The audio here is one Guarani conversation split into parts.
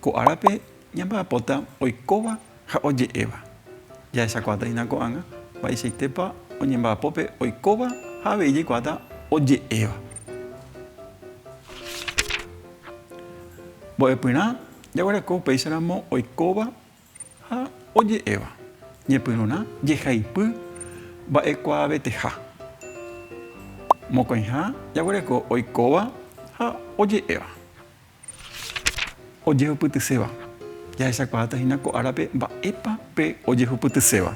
Ko árape ñamba'apóta oikóva ha oje'éva. Jahechakuaataína ko'ág̃a mba'eichaitépa oñemba'apo pe oikóva ha avei jaikuaáta oje'éva. Mbo'epyrã jaguereko upéicharamo oikóva ha oje'éva. Ñepyrũrã jehaipy mba'ekuaaveteha. Mokõiha jaguereko oikóva ha oje'éva. Ojehupytyséva. Jahechakuaáta hína ko árape mba'épa pe ojehupytyséva.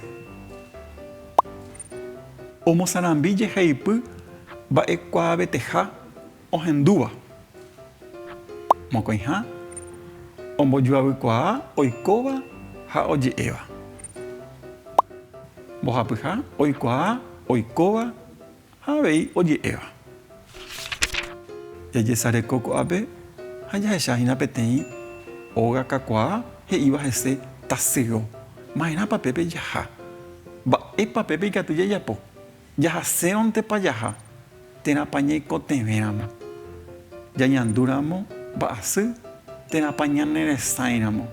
Omosarambi jeheipy mba'ekuaaveteha ohendúva. Mokõiha ombojoavykuaa oikóva ha oje'éva. Mbohapyha oikuaa oikóva Ha avei oje'éva, Jajesareko ko'ápe ha jahecha hína peteĩ óga kakuaa he'íva hese tasyro. Maerãpa pépe jaha? Mba'épa pépe ikatu jajapo? Jahasérõntepa jaha? Térãpa ñaikotevẽramo? Jañandúramo mba'asy? Térãpa ñaneresãiramo?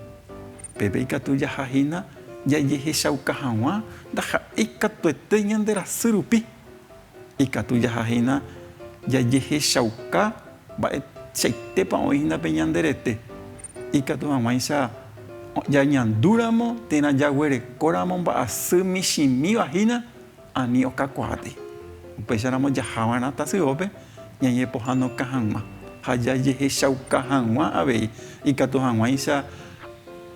Peve ikatu jaha hína jajehechauka hag̃ua ndaha'éi katuete ñande rasy rupi. Ikatu jaha hína jajehechauka mba'eichaitépa oĩ hína pe ñande rete. Ikatu hag̃uáicha jañandúramo térã jaguerekóramo mba'asy michĩmíva hína. Ani okakuaáte, upéicha ramo jaha va'erã tasyópe ñañepohãnoka hag̃ua ha jajehechauka hag̃ua avei, ikatu hag̃uáicha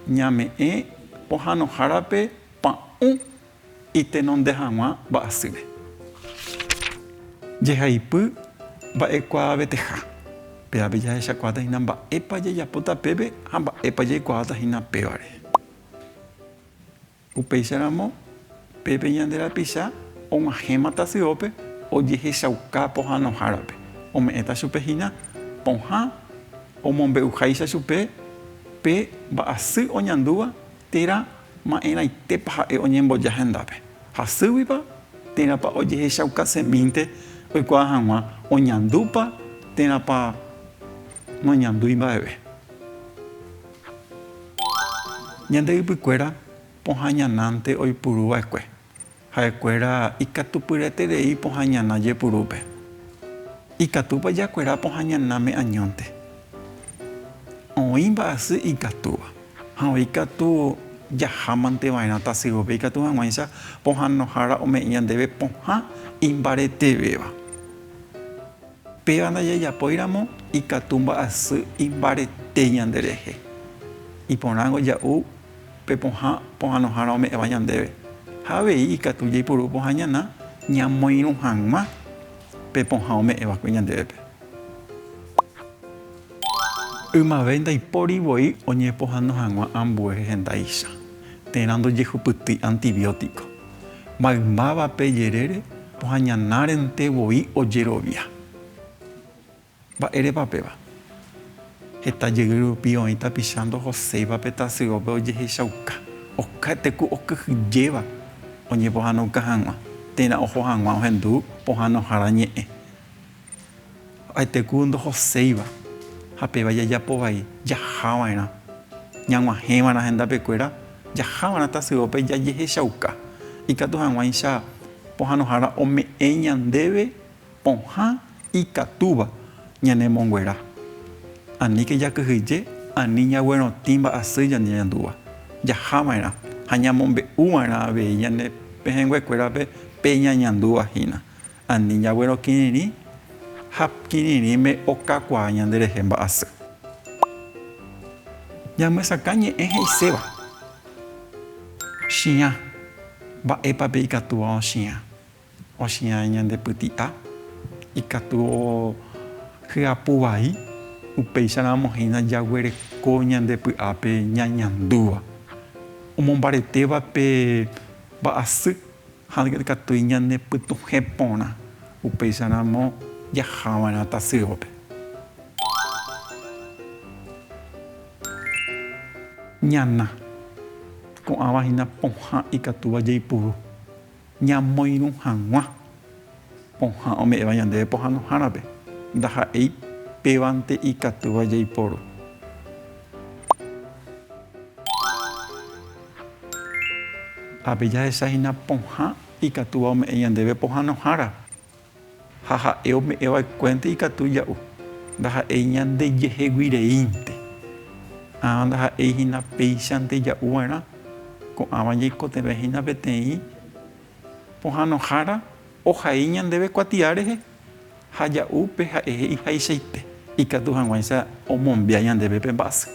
ñame'ẽ pohãnohárape pa'ũ itenonde hag̃ua mba'asýre. Jehaipy mba'ekuaaveteha, pévape jahechakuaáta hína mba'épa jajapóta pépe ha mba'épa jaikuaáta hína pévare. Upéicharamo, pépe ñande rapicha og̃uahẽma tasyópe ojehechauka pohãnohárape, ome'ẽta chupe hína pohã omombe'uháicha chupe pe mba'asy oñandúva térã ma'erãitépa ha'e oñemboja hendápe, hasýguipa, térãpa ojehechauka semínte oikuaa hag̃ua, oñandúpa, térãpa noñandúi mba'eve. Ñande ypykuéra pohãñanánte oipuru va'ekue, ha'ekuéra ikatupyreterei pohãñana jepurúpe. Ikatúpa jakuera pohãñanáme añónte? Oĩ mba'asy ikatúva, ha oĩ katu jahámante va'erã tasyópe ikatu hag̃uáicha pohãnohára ome'ẽ ñandéve pohã imbaretevéva. Péva ndajajapóiramo ikatu mba'asy imbarete ñanderehe, iporãngo ja'u pe pohã pohãnohára ome'ẽva ñandéve, ha avei ikatu jaipuru pohã ñana ñamoirũ hag̃ua pe pohã ome'ẽ va'ekue ñandévepe. Ymave ndaipóri voi oñepohãno hag̃ua ambue rehendáicha, térã ndojehupytýi antibiótico. maymáva pe jerére ohañanárente voi ojerovia. Mba'érepa péva? Heta jey rupi oĩ tapicha ndohoséiva pe tasyópe ojehechauka, okáete ku okyhyjéva oñepohãnoka hag̃ua, térã oho hag̃ua ohendu pohãnohára ñe'ẽ. Aite ku ndohoséiva, ha péva jajapo vai jaha va'erã. Ñag̃uahẽva'erã hendápe kuéra, jaha va'erã tasyópe jajehechauka. Ikatu hag̃uáicha pohãnohára ome'ẽ ñandéve pohã ikatúva ñanemonguera. Aníke jakyhyje ani ñaguerotĩ mba'asy ñandeñandúva. Jaha va'erã ha ñamombe'u va'erã avei ñane pehẽngue kuérape pe ñañandúva hína. Ani jaguero kirirĩ ha kirirĩme okakuaa ñanderehe mba'asy. Ñamyesakã ñe'ẽ he'iséva, Chiã, mba'épape ikatúva ochiã? Ochiã ñandepyti'a, ikatu hyapu vai, upéicharamo hína jaguereko ñande py'ápe ñañandúva, omombaretéva pe mba'asy. Ha ndekatúi ñanepytuhẽ porã, upéicharamo jahava'erã tasývape. Ñana, ko'ãva hína pohã ikatúva jaipuru ñamoirũ hag̃ua. Pohã ome'ẽva ñandéve pohãnohárape, ndaha'éi pévante ikatúva jaiporu. Ápe jahecha hína pohã ikatúva ome'ẽ ñandéve pohãnohára, ha ha'e ome'ẽva'ekuénte ikatu ja'u, ndaha'éi ñandejeheguireínte. Ãva ndaha'éi hína péichante ja'uva'erã, ko'ãva ñaikotevẽ hína peteĩ Pohãnohára ohai ñandéve kuatia rehe ha ja'u pe ha'ehe ihaichaite, ikatu hag̃uáicha omombia ñandéve pe mba'asy.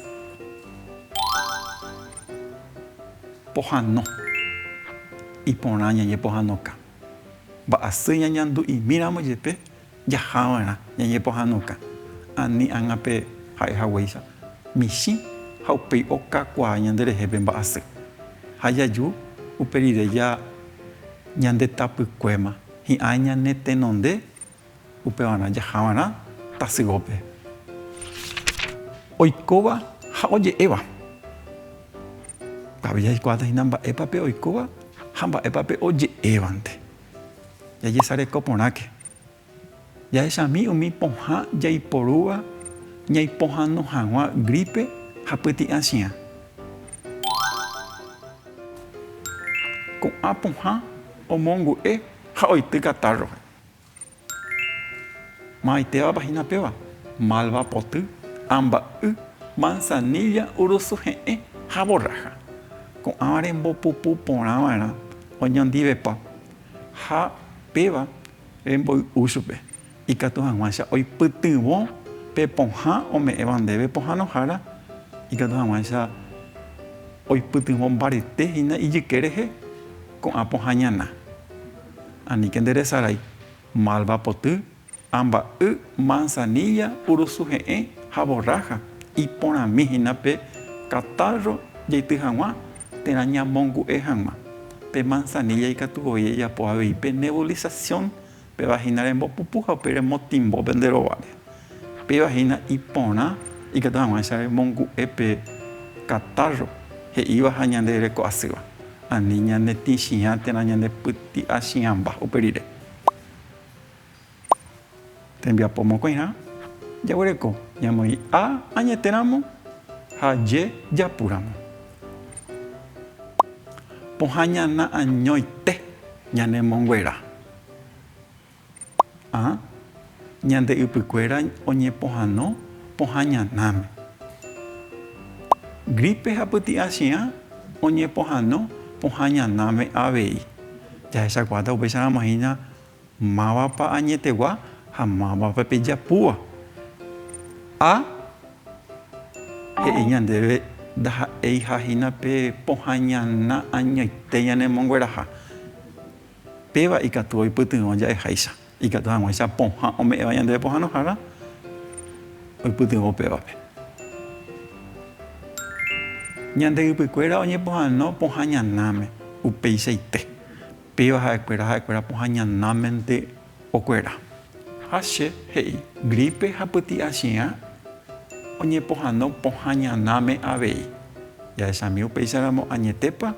Pohãno. Iporã ñañepohãnoka. Mba'asy ñañandu'imíramo jepe, Jahava'erã ñañepohãnoka ani ág̃ape ha'e haguéicha michĩ ha upéi okakuaa ñanderehe pe mba'asy. Ha jaju upe rire ja ñandetapykuéma hi'ã ñanetenonde upevarã jahava'erã tasyópe. Oikóva ha oje'éva. Tavira jaikuaáta hína mba'épa pe oikóva ha mba'épa pe oje'évante. Jajesareko porãke. Jahechami umi pohã jaiporúva ñaipohãno hag̃ua grípe ha pyti'ã chiã. Ko'ã pohã omongu'e ha oity katárrope. Maytevapa hína péva, malva poty, amba'y, manzanilla, urusu he'ẽ ha borrája. Ko'ãva rembopupu porã va'erã oñondivepa ha péva remboy'u chupe, ikatu hag̃uáicha oipytyvõ pe pohã ome'ẽva ndéve pohãnohára, ikatu hag̃uáicha oipytyvõ mbarete hína ijyke rehe ko'ã pohã ñana. Aníke nde resarái, malva poty, amba'y, manzanilla, urusu he'ẽ ha borrája, iporãmi hína pe katárro jaity hag̃ua térã ñamongu'e hag̃ua. Pe manzanilla ikatu voi rejapo avei pe nebulización, péva hína rembopupu ha upéi remotimbópe nde rováre. Upéva hína iporã ikatu hag̃uáichare mongu'e pe katárro he'íva ha ñande reko asýva, ani ñanetĩchiã térã ñandepyty'achiãmba upe rire. Tembiapo mokõiha jaguereko ñamoĩ a añete ramo ha je japu ramo. Pohã ñana añoite ñanemonguera. Ha ñande ypykuéra oñepohano pohã ñanáme. Grípe ha pyti'a chiã oñepohano pohã ñanáme avei. Jahechakuaáta upéicharãmohína mávapa añetegua ha mávapa pejapúva. Ha he'i ñandéve ndaha'éiha hína pe pohã ñana añoite ñanemongueraha. Péva ikatu oipytyvõ ja'eháicha, ikatu hag̃uáicha pohã ome'ẽva ñandéve pohãnohára oipytyvõ upévape. Ñande ypykuéra oñepohãno pohã ñanáme, upeichaite, péva ha'ekuéra ha'ekuéra pohã ñanámente okuera. Ha che he'i, grípe ha pyti'a chiã oñepohãno pohã ñanáme avei. Jahechami upéicharamo añetépa?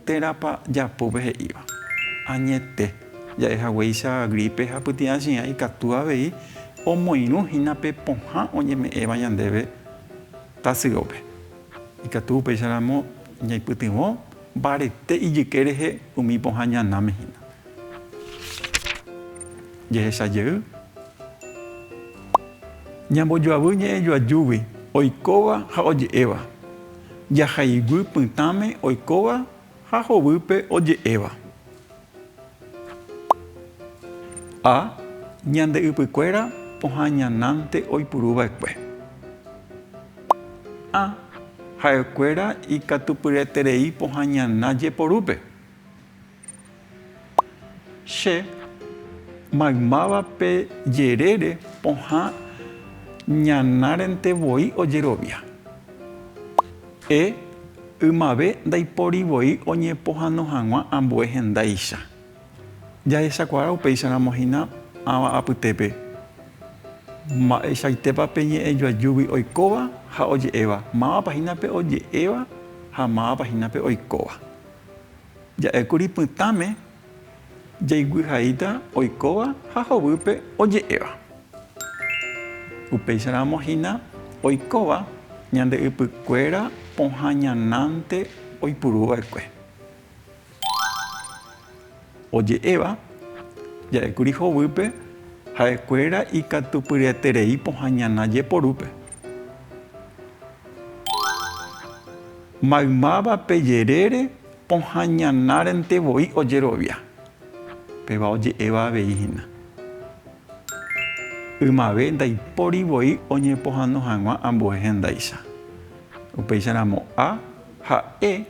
Térãpa japópe he'íva? Añete, ja'e haguéicha grípe ha pytyãchiã ikatu avei omoirũ hína pe pohã oñeme'ẽva ñandéve tasyópe. Ikatu upéicharamo ñaipytyvõ mbarete ijyke rehe umi pohã ñanãme hína. Jehecha jey, ñambojoavy ñe'ẽjoajúgui oikóva ha oje'éva. Jahaiguy pytãme oikóva ha hovýpe oje'éva. A. Ñande ypykuéra pohã ñanánte oipuruva'ekue. A. Ha'ekuéra ikatupyreterei pohã ñana jeporúpe. Che maymáva pe jerére pohã ñanárente voi ojerovia. E ymave ndaipóri voi oñepohano hag̃ua ambue hendáicha. Jahechakuaa upéicharamo hína ãva apytépe, mba'eichaitépa pe ñe'ẽ joajúgui oikóva ha oje'éva, mávapa hína pe oje'éva ha mávapa hína pe oikóva. Ja'ékuri pytãme jaiguihaíta oikóva ha hovýpe oje'éva. Upéicharamo hína oikóva ñande ypykuéra pohã ñanánte oipuruva'ekue. Oje'éva ja'ékuri hovýpe ha'ekuéra ikatupyryaterei pohã ñana jeporúpe. Maymáva pe jerére pohã ñanárente voi ojerovia. Péva oje'éva avei hína. Ymave ndaipóri voi oñepohãno hag̃ua ambue hendáicha. Upéicha ramo A ha E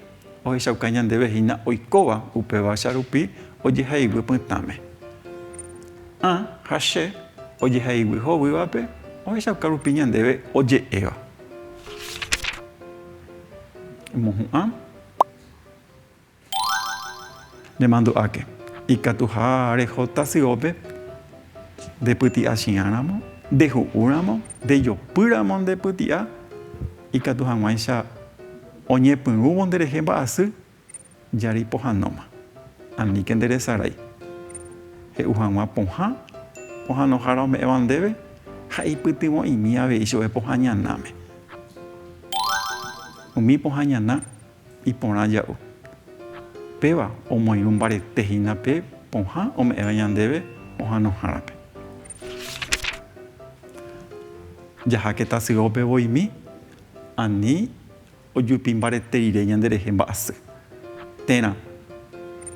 ohechauka ñandéve hína oikóva upévacha rupi ojehaígui pytãme. A ha Che ojehaígui hovývape ohechauka rupi ñandéve oje'éva. Emohu'ã. Nemandu'áke. Ikatuha reho tasyópe, ndepyti'a chi'ãramo, ndehu'úramo, ndejopýramo ndepyti'a, ikatu hag̃uáicha oñepyrũvo nderehe mba'asy, Jari pohanóma. Aníke nde resarái. He'u hag̃ua pohã, pohanohára ome'ẽva ndéve, ha eipytyvõ'imi avei chove pohã ñanáme. Umi pohã ñana iporã ja'u. Péva omoirũ mbarete hína pe pohã ome'ẽva ñandéve ohanohárape. Jaháke tasyópe voimi, ani Ojupi mbarete rire ñanderehe mba'asy. Térã,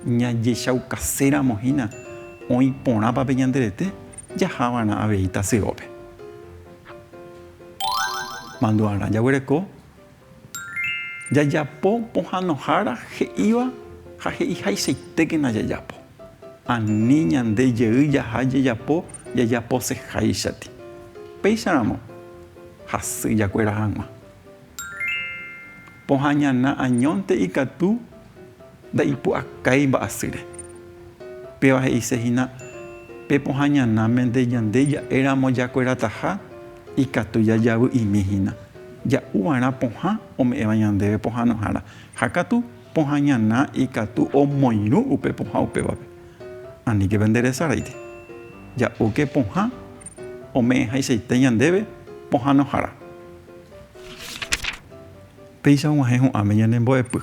ñajechaukaséramo hína oĩ porãpa pe ñande rete, jaha va'erã avei tasyópe. Mandu'arã jaguereko jajapo pohãnohára he'íva ha he'iháichaitékena jajapo. Ani ñande jey jaha jajapo jajaposeháichati. Péicharamo, hasy jakuera hag̃ua. Pohã ñana añónte ikatu ndaipu'akái mba'asýre. Péva he'ise hína, Pe pohã ñanáme nde ñande ja'éramo jakuerataha ikatu jajavy'imi hína, ja'u va'erã pohã ome'ẽva ñandéve pohãnohára. Ha katu, pohã ñana ikatu omoirũ upe pohã upévape. Aníkeve nde resaráiti. Ja'úke pohã ome'ẽhaichaite ñandéve pohãnohára. Péicha og̃uahẽ ho'áme ñane mbo'epy,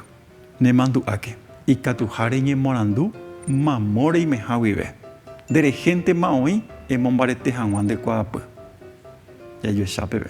ne mandu'áke, ikatuha reñemorandu mamo reimeha guive, nde rehénte ma oĩ emombarete haguã nde kuaapy. Jajuecha peve.